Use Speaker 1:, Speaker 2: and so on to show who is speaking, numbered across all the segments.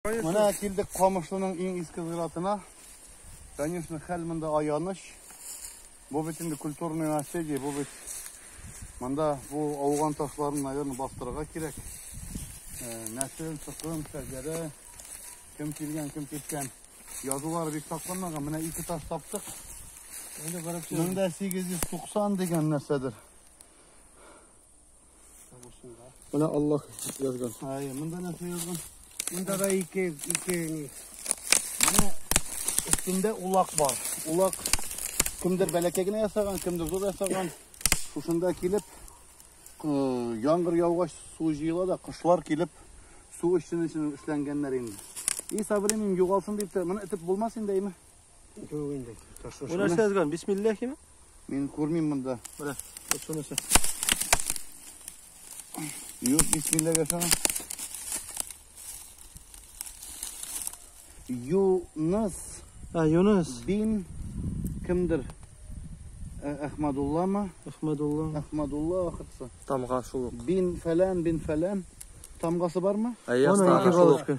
Speaker 1: Менә килдек Камышлының иң иске зиратына. Конечно, хәл монда аяныч. Бу бит инде культурный наследие, бу бит монда бу ауган ташларын, наверное, бастырырга кирәк. Нәсел, сукым, шәҗәрә, кем килгән, кем киткән. Язулар бик сакланмаган. Менә ике таш таптык. Инде 1890 дигән нәрсәдер. Менә Аллах язган. Ай, монда нәрсә язган? Монда да ике, ике ни. Менә өстендә улак бар. Улак кемдер бәләкәй генә ясаган, кемдер зур ясаган. Шушында килеп, яңгыр яугач су җыела да, кошлар килеп су өчен өчен эшләнгәннәр инде. И, Сабрин, югалсын дип, моны итеп булмас инде, әйме? Юк инде. Ташлы. Бу нәрсә язган? Бисмиллахиме? Мин күрмим монда. Менә, шуны нәрсә. Юк, бисмиллах ясана. Юныс. А, Юныс. Бин кемдер? Әхмәдуллама. Әхмәдулла. Әхмәдулла ахырсы. Тамга шул. Бин фәлән, бин фәлән. Тамгасы бармы? Әйе, тамга шул.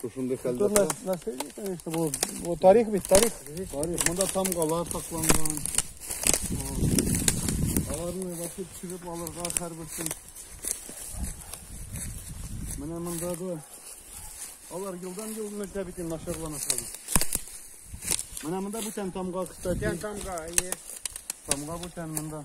Speaker 1: Тут шундый хәлдә Тут нас- наследие, конечно, бу, бу тарих бит, тарих. Тарих, монда тамгалар сакланган. Аларны вакыт чыгып алырга һәрберсен. Менә монда да алар елдан ел мәктәп бит инде начарлана шул. Менә монда бүтән тамга, кстати. Бүтән тамга, әйе. Тамга бүтән монда.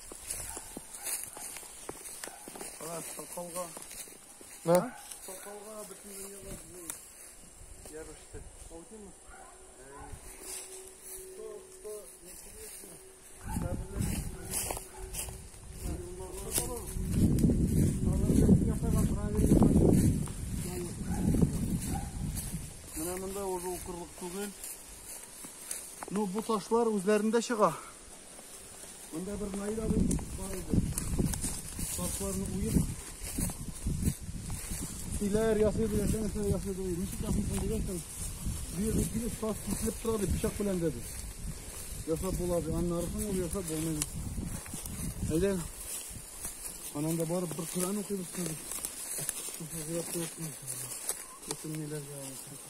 Speaker 1: Соколга. Да? Соколга бөтен дөньяга бу ярышты. Алдымы? То, то, интересно. Менә монда уже укырлык түгел. Ну, бу ташлар үзләрендә чыга. Монда бер Наил абый бар иде. Ташларны уеп, иләр ясыйды, яшәгән нәрсә ясыйды. Ничек ясыйсың дигәнсең, бу жерде килеп таш киселеп тора дип пычак белән дәде. Ясап була ди. Аннарысын ул ясап булмый. Әйдә. Ананда барып бер Коран укыйбыз хәзер. Шушы зират куйсын. Бөтен ниләргә алып.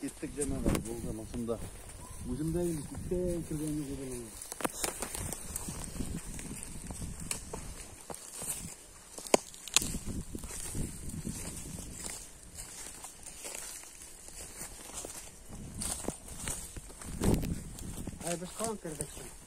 Speaker 1: Кеттек җәмәгать, булган осында. Үзем дә инде күптән кергәнне күрдем. Ай, без калып кердек.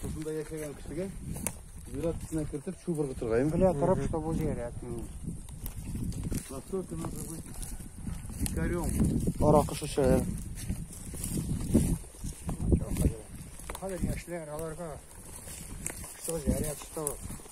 Speaker 1: Шушында яшәгән кешегә зират эченә кертеп чүп ыргытыргаймы? Белә торып, что бу зират. Насколько надо быть дикарем. Аракы шешәләр. Хәзер яшьләр аларга что зират, что